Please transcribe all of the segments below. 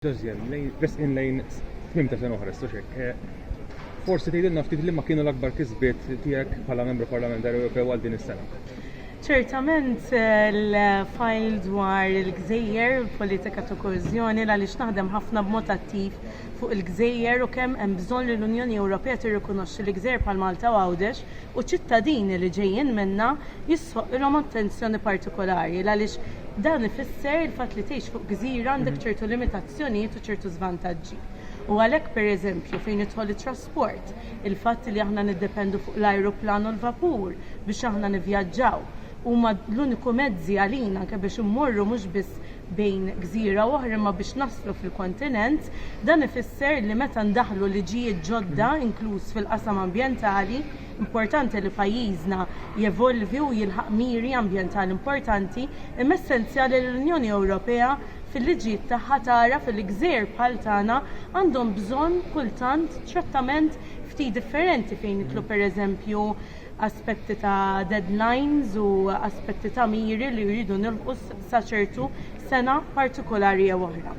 Resqin lejn tmiem ta' sena oħra, Stoċek, forsi tgħidilna ftit liema kienu l-akbar kisbiet tiegħek bħala Membru Parlamentari Ewropew għal din is-sena? Ċertament l-fajl dwar il-gżejjer, politika ta' koeżjoni għaliex naħdem ħafna b'mod attiv fuq il-gżejjer u kemm hemm bżonn li l-Unjoni Ewropea tirrikonoxxi li gżejjer bħal Malta u Għawdex u ċittadini li ġejjin minnha jistħoqqilhom attenzjoni partikolari għaliex dan ifisser il-fatt li tgħix fuq gżira għandek ċertu limitazzjonijiet u ċertu żvantaġġi u għalhekk pereżempju fejn jidħol it-trasport il-fatt li aħna niddependu fuq l-ajruplan u l-vapur biex aħna nivvjaġġaw huma l-uniku mezzi għalina anke biex immorru mhux biss bejn gżira u oħra imma biex naslu fil-kontinent, dan ifisser li meta ndaħħlu liġijiet ġodda inkluż fil-qasam ambjentali, importanti li pajjiżna jevolvi u jilħaq miri ambjentali importanti, imma essenzjali li l-Unjoni Ewropea fil-liġijiet tagħha tagħraf li gżejjer bħal tagħna għandhom bżonn kultant trattament ftit differenti fejn nidħlu pereżempju aspetti ta' deadlines u aspetti ta' miri li jridu nilħqu sa ċertu sena partikolari jew oħra.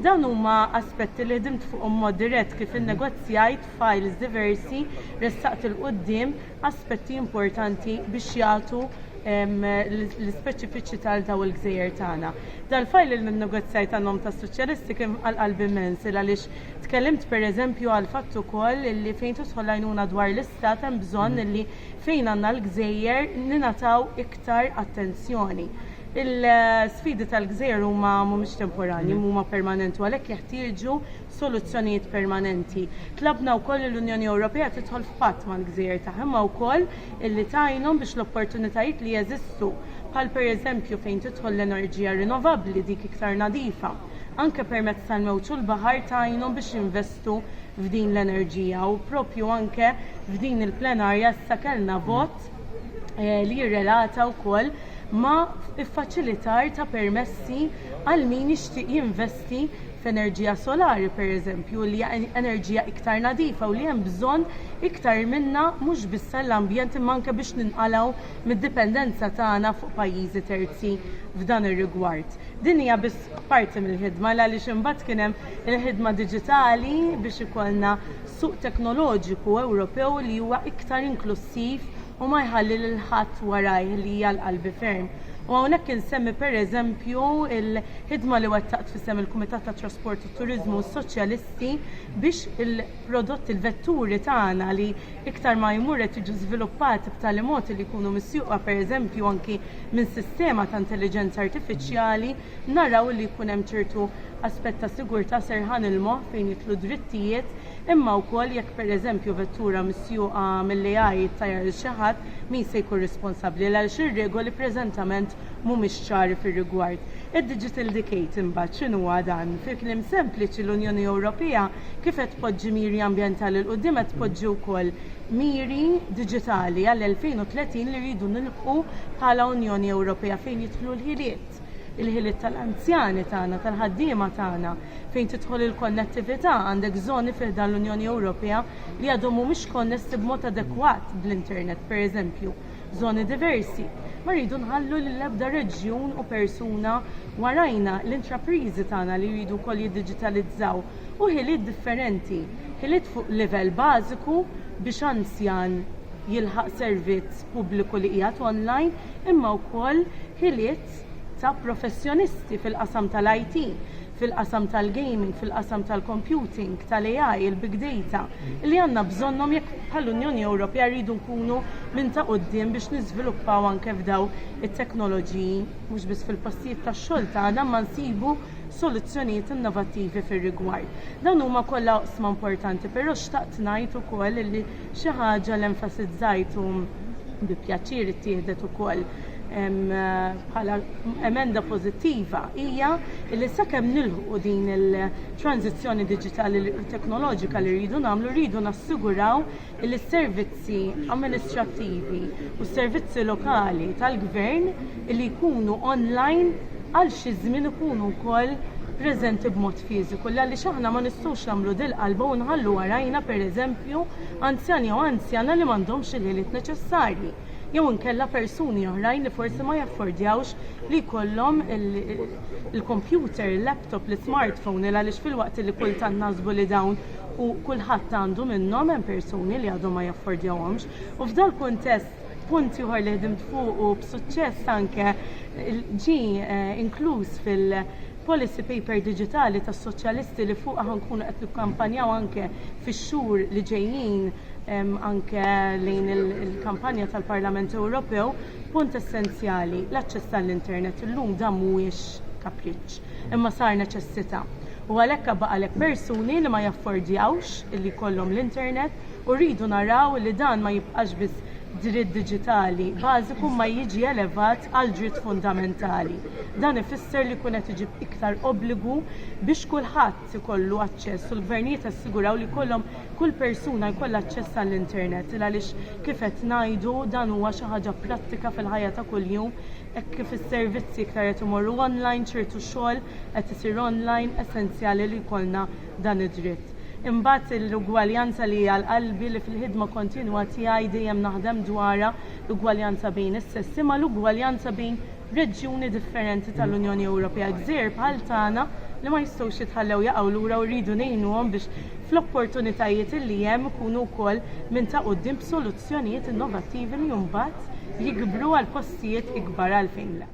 Dawn huma aspetti li ħdimt fuqhom mod dirett kif innegozjajt fajls diversi, ressaqt 'il quddiem aspetti importanti biex jagħtu l-ispeċifiċità għal dawn il-gżejjer tagħna. Dal-fajl li nnegozjajt għan-nom tas-Soċjalisti kien għal qalbi immens il għaliex Tkellimt pereżempju għall-fatt ukoll li fejn tidħol l-għajnuna dwar l-Istat hemm bżonn li fejn għandna l-gżejjer ningħataw iktar attenzjoni. L-sfidi tal-gżejjer huma mhumiex temporanji, huma permanenti u għalhekk jeħtieġu soluzzjonijiet permanenti. Tlabna wkoll li l-Unjoni Ewropea tidħol f'patt mal-gżejjer tagħha imma wkoll li tgħinhom biex l-opportunitajiet li jeżistu, bħal pereżempju fejn tidħol l-enerġija rinnovabbli, dik iktar nadifa, anke permezz tal-mewġ u l-baħar tgħinhom biex jinvestu f'din l-enerġija u propju anke f'din il-plenarja issa kellna vot eh, li jirrelata wkoll ma' iffaċilitar ta' permessi għal min jixtieq jinvesti f'enerġija solari pereżempju li hija enerġija iktar nadifa u li hemm bżonn iktar minnha mhux biss għall-ambjent imma anke biex ninqalgħu mid-dipendenza tagħna fuq pajjiżi terzi f'dan ir-rigward. Din hija biss parti mill-ħidma għaliex imbagħad kien hemm il-ħidma diġitali biex ikollna suq teknoloġiku Ewropew li huwa iktar inklussiv u ma jħalli lil ħadd warajh li hija l-qalbi ferm. U hawnhekk insemmi pereżempju l-ħidma li wettaqt f'isem il-Kumitat tat-Trasport u t-Turiżmu u s-Soċjalisti biex il-prodotti, il-vetturi tagħna li iktar ma jmur qed jiġu żviluppati b'tali mod li jkunu misjuqa pereżempju anki minn sistema ta' intelliġenza artifiċjali, naraw li jkun hemm ċertu aspett ta' sigurtà serħan il-moħħ fejn jidħlu d-drittijiet, imma wkoll jekk pereżempju vettura misjuqa mill-AI ittajjar lil xi ħadd, min se jkun responsabbli għaliex ir-regoli preżentament mhumiex ċari fir-rigward. Id-Digital Decade imbagħad x'inhuwa dan? Fi kliem sempliċi l-Unjoni Ewropea Kif qed tpoġġi miri ambjentali 'l quddiem qed tpoġġi wkoll miri diġitali għall-2030 li rridu nilħqu bħala Unjoni Ewropea fejn jidħlu l-ħiliet, il-ħiliet tal-anzjani tagħna, tal-ħaddiema tagħna, fejn tidħol il-konnettività, għandek żoni fi ħdan l-Unjoni Ewropea li għadhom mhumiex konnessi b'mod adekwat bl-internet, pereżempju. żoni diversi. Ma rridu nħallu lil ebda reġjun u persuna warajna. L-intrapriżi tagħna li jridu wkoll jiddiġitalizzaw u ħiliet differenti, ħiliet fuq livell bażiku biex anzjan jilħaq servizz pubbliku li qiegħed online imma wkoll ħiliet ta' professjonisti fil-qasam tal-IT. fil-qasam tal-gaming, fil-qasam tal-computing, tal-AI, il-big data, li għandna bżonnhom jekk bħall-Unjoni Ewropea rridu nkunu minn ta' quddiem biex niżviluppaw anke f'daw it-teknoloġiji mhux biss fil-postijiet tax-xogħol tagħna imma nsibu soluzzjonijiet innovattivi fir-rigward. Dawn huma kollha oqsma importanti, però xtaqt ngħid ukoll li Xi ħaġa li enfasizzajt u bi pjaċir ittieħdet ukoll bħala emenda pożittiva hija li sakemm nilħqu din il-tranżizzjoni diġitali u teknoloġika li rridu nagħmlu rridu nassiguraw li s-servizzi amministrattivi u s-servizzi lokali tal-gvern li jkunu online għal xi żmien ikunu wkoll preżenti b'mod fiżiku għaliex aħna ma nistgħux nagħmlu dil-qalba u nħallu warajna pereżempju anzjan jew anzjana li m'għandhomx il-ħiliet neċessarji jew inkella persuni oħrajn li forsi ma jaffordjawx li jkollhom il-kompjuter, il-laptop, l-ismartphone għaliex filwaqt li kultant naħsbu li dawn kulħadd għandu minnhom hemm persuni li għadhom ma jaffordjawhomx u f'dal-kuntest Punt ieħor li ħdimt fuqu b'suċċess anke ġi eh, inkluż fil-policy paper diġitali tas-soċjalisti li fuqha ħankunu qed nikkampanjaw anke fix-xhur li ġejjin anke lejn il-kampanja tal-Parlament Ewropew, punt essenzjali l-aċċess għall-internet illum dan mhuwiex kapriċċ, imma sar neċessità. U għalhekk għalhekk persuni li ma jaffordjawx li jkollhom l-internet u rridu naraw li dan ma jibqax biss dritt diġitali bażiku imma jiġi elevat għal dritt fundamentali. Dan ifisser li jkun qed iġib iktar obbligu biex kulħadd ikollu aċċess u l-gvernijiet jassiguraw li jkollhom kull persuna jkollha aċċess għall-internet il għaliex kif qed ngħidu dan huwa xi ħaġa prattika fil-ħajja ta' kuljum hekk kif is-servizzi iktar qed imorru online ċertu xogħol qed isir online essenzjali li jkollna dan id-dritt. Imbagħad l-ugwaljanza li hi għal qalbi li fil-ħidma kontinwa tiegħi dejjem naħdem dwarha, l-ugwaljanza bejn is-sessi mal-ugwaljanza bejn reġjuni differenti tal-Unjoni Ewropea, gżejjer bħal tagħna li ma jistgħux jitħallew jaqgħu lura u rridu ngħinuhom biex fl-opportunitajiet li hemm ikunu wkoll minn ta' quddiem b'soluzzjonijiet innovattivi li mbagħad jikbru għal postijiet ikbar għalfejn le.